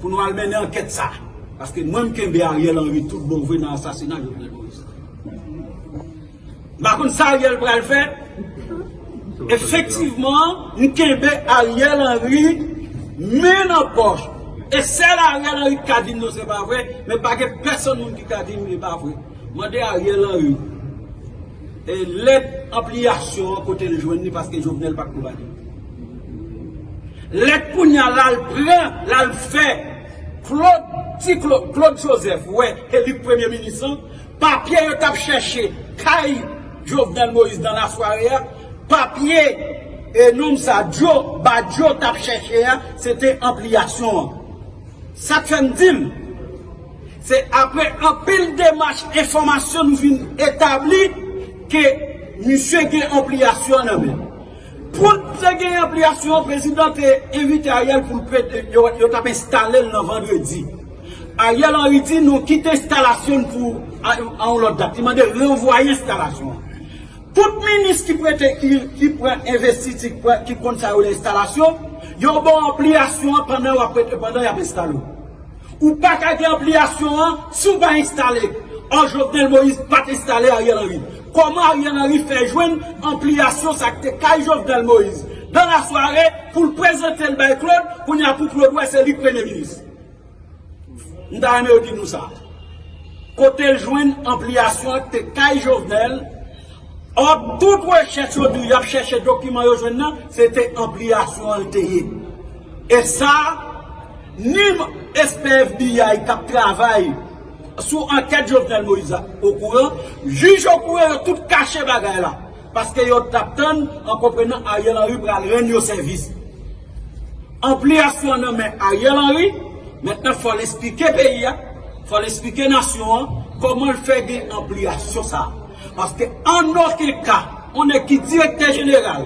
Pou nou al mennen ankèt sa. Paske mwen m kenbe Ariel Henry tout bon vre nan asasina Jovenel Moïse la. M pa konn sa Ariel pral fè. Efektivman, m kenbe Ariel Henry men nan pòch. E sèl Ariel Henry ki ka di m non se pa vre, men pa gen pèsonn moun ki ka di m li pa vre. Mande Ariel Henry. E lèt anpliyasyon an kote l jwenn li paske Jovenel pat kou bali. Lèt kounya la l pran la l fè Claude ti Claude Claude Joseph wè ke li k premye minis lan, papye yo tap chèche kay Jovenel Moïse nan lasware a, papye e nonm sa Djo Badjo tap chèche a se te anpliyasyon an. Sak fè m di l Se apre anpil demach enfòmasyon nou vin etabli ke misye gen anpliyasyon an nan men l. Pou l te gen anpliyasyon an, prezidan te envite Ariel pou l prete, yo t ap enstale l nan vandredi. Ariel Henry di nou kite enstalasyon n pou a yon lòt dat, li mande ranvwaye enstalasyon an. Tout minis ki prete, ki pran envestiti, ki konn sa yo rele enstalasyon, yo ba w anpliyasyon an pandan y ap enstale w. Ou pa ka gen anpliyasyon an si w pa enstale. Ò Jovenel Moïse pat enstale Ariel Henry. Kòman Ariel Henry fè jwenn anpliyasyon sa k te kay Jovenel Moïse dans la soirée pou l prezante l bay Claude kounye a pou Claude wè se li k premye minis? M ta renmen yo di nou sa. Kote l jwenn anpliyasyon an k te kay Jovenel ò tout rechèch yo di w y ap chèche dokiman yo jwenn nan se te anpliyasyon an l te ye. Esa minm espè FBI kap travay sou ankèt Jovenel Moïse la okouran, jij okouran yo tout kache bagay la paske yo tap tann an konprenan Ariel Henry pral rann yo sèvis. Anpliyasyon nan men Ariel Henry, mentnan fòl esplike peyi a, fòl esplike nasyon an kòmanl fè gen anpliyasyon sa paske an oken ka yon nèg ki direktè jeneral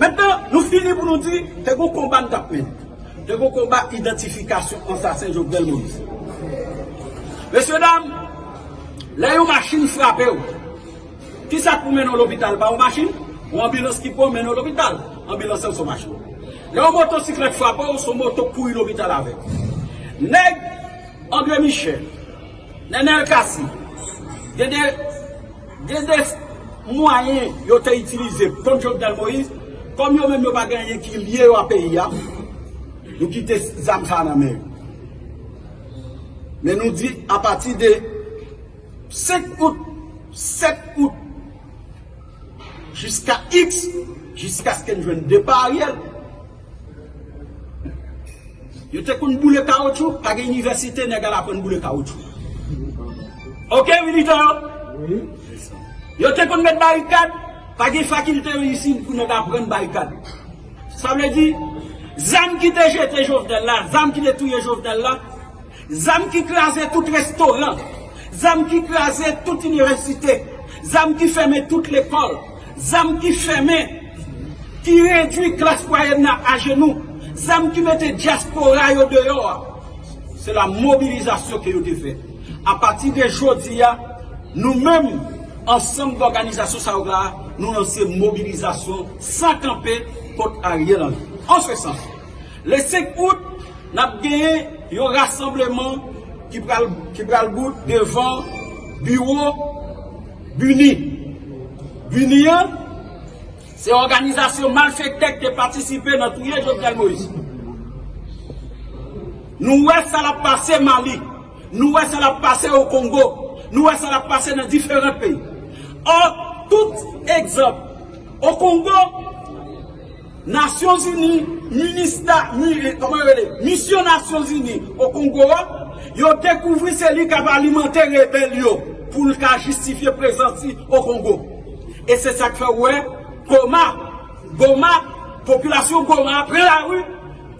Mentnan, nou fini pou nou di, te gon konba nou t ap mennen. Te gon konba idantifikasyon ansasen Jovenel Moïse. Mesyedam, lè yon machin frape w, ki sa k pou mennen w lopital? Pa yon machin? Yon anbilans ki pran w mennen w lopital. Anbilans lan se yon machin. Lè yon motosiklèt frape w, se yon moto k kouri lopital avè w. Nèg André Michel. Nenel Cassy, gen de gen de mwayen yo te itilize kont Jovenel Moïse, kòm yo menm yo pa gen anyen ki lye yo a peyi a, nou kite zam sa a nan men yo. Men nou di apati de 5 out, 7 out, jiska iks, jiskaske n jwenn depa Ariel, Yo te konn boule kawotchou, pa gen inivèsite nèg al aprann boule kawotchou. Ok militan yo? Yo te konn met barikad, pa gen fakilte yo isit pou nèg aprann barikad. Sa vle di, zam ki te jete Jovenel la, zam ki te touye Jovenel la, Zam ki kraze tout restoran, zam ki kraze tout inivèsite, zam ki fèmen tout lekòl, zam ki fèmen, ki redui klas mwayèn nan ajenou, zam ki mete dyaspora yo deyò a, se la mobilizasyon ke yo te fè. A pati de jodi a, nou menm, ansanm dòganizasyon sa yo la, nou lanse mobilizasyon san kanpe kont Ariel Henry. An se sans, Le 5 out, n ap genyen yon rasanbleman ki pral bout devan biwo BUNI. BUNI an, se òganizasyon malfektè ki te patisipe nan touye Jovenel Moïse. Nou wè sa l ap pase Mali, nou wè sa l ap pase o Kongo, nou wè sa l ap pase nan diferan peyi. Ò, tout egzanp, o Kongo, Nasyon Zini, Minista, kòman yo rele, Misyon Nasyon Zini o Kongo a, yo dekouvri se li k ap alimante rebèl yo pou l ka jistifye prezans li o Kongo. E se sa k fè ou wè Goma, Goma, popilasyon Goma a pran lari,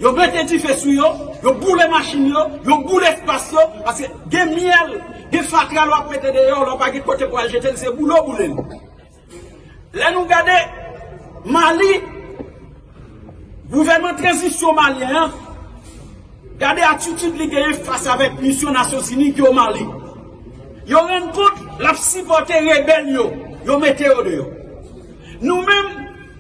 yo mete dife sou yo, yo boule machin yo, yo boule espas yo, paske gen myèl, gen fatra lè w ap mete deyò, lè w pa gen kote pou al jete l, se boule w boule l. Lè nou gade Mali, gouvènman tranzisyon malyen an, gade atitid li genyen fas avèk misyon Nasyonzini ki o Mali. Yo rann kont l ap sipòte rebèl yo, yo mete yo deyò. Nou menm.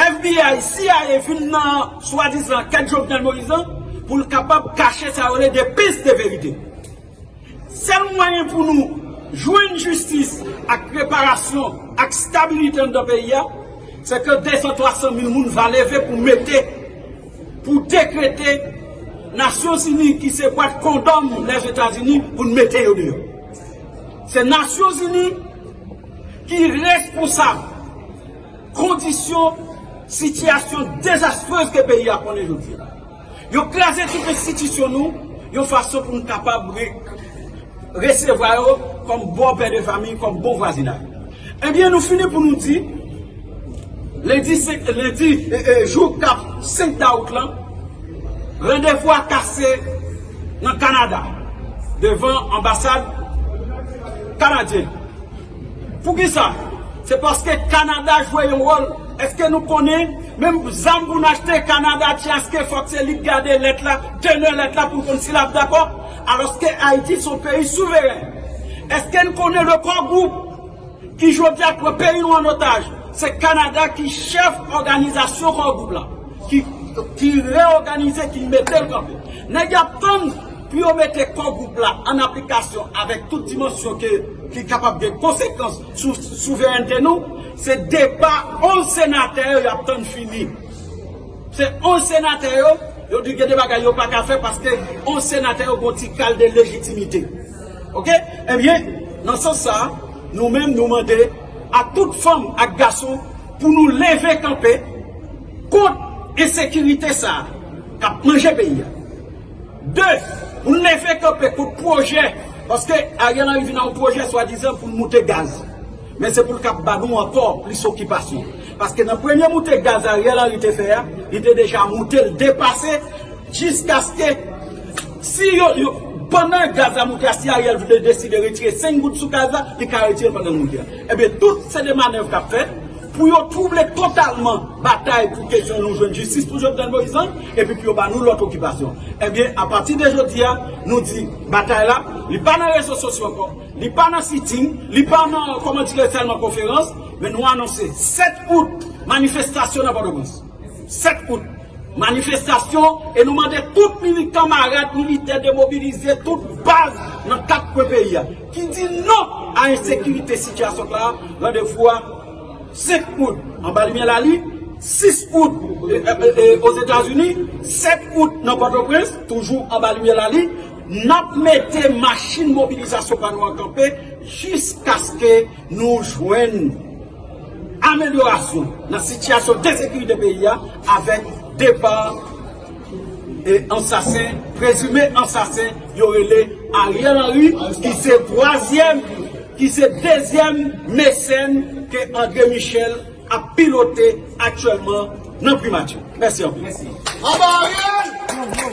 FBI, cia vin nan swadizan ankèt Jovenel Moïse lan pou l kapab kache sa yo rele de pis de verite. Sèl mwayen pou nou jwenn jistis ak reparasyon ak stabilite anndan peyi a, se ke 200, 300 mil moun va leve pou mete, pou dekrete Nasyon Zini ki se bwat kondòm Lèzetazini pou n mete yo deyò. Se Nasyon Zini ki responsab. Kondisyon, sitiyasyon dezastrez ke peyi a konnen jodi a. Yo kraze tout enstitisyon nou yon fason pou nou kapab resevwa yo kòm bon pè de fami, kòm bon vwazinay. Ebyen nou fini pou nou di, lendi 5, lendi, jou kap 5 dawout lan, randevou a kase nan Kanada, devan anbasad kanadyen. Poukisa? Se paske Canada jwe yon wòl. Eske nou konnen menm zam pou n achte Canada ti aske fòk se li k gade lèt la, teneur lèt la pou l konn si l ap dakò? Alòske Ayiti se yon peyi souveren. Eske n konnen le Core Group ki jodi a pran peyi nou an otaj, se Canada ki chèf òganizasyon Core Group la, ki reòganize, ki mete l kanpe. Nèg y ap tann. Pou yo mete Core Group la an aplikasyon avèk tout dimansyon ke li kapab gen konsekans sou souverènte nou, se depa 11 senatè yo y ap tann fini. Se 11 senatè yo, yo di gen de bagay yo pa ka fè paske 11 senatè yo gon ti kal de lejitimite. Ok? Ebyen, nan sans sa a, nou menm nou mande a tout fanm ak gason pou nou leve kanpe kont ensekirite sa a k ap manje peyi a. 2, Pou n leve kanpe kont pwojè, paske Ariel Henry vin ak yon pwojè swadizan pou l moute gaz. Men se pou l kab ba nou ankò plis okipasyon. Paske nan premye moute gaz Ariel Henry te fè a, li te deja moute l depase jiskaske si yo, pandan gaz la moute a, si Ariel vle deside retire 5 goud sou gaz la, li ka retire l pandan l moute a. Ebyen tout se de manèv k ap fèt. Pou yo twouble totalman batay pou kesyon nou jwenn jistis pou Jovenel Moïse lan, epi pou yo ba nou lòt okipasyon. Ebyen, apati de jodi a, nou di, batay la, li pa nan rezo sosyo ankò, li pa nan sitting, li pa nan, kòman dire, sèlman konferans, men nou anonse, 7 out, manifestasyon nan Pòtoprens. 7 out, manifestasyon, e nou mande tout militan, marad, militè, demobilize, tout baz nan 4 kwen peyi a. ki di non a ensekirite sitiyasyon sa a, randevou a 5 out anba limyè lalin, 6 out Ozetazini, 7 out nan Pòtoprens, toujou anba limyè lalin, N ap mete machin mobilizasyon pa nou an kanpe jiskaske nou jwenn amelyorasyon nan sitiyasyon de sekirite peyi a avèk depa. Ansasen, prezime ansasen yo rele Ariel Henry ki se twazyèm, ki se dezyèm mesèn ke Andre Michel ap pilote aktyèlman nan primati. Mèsi anpil.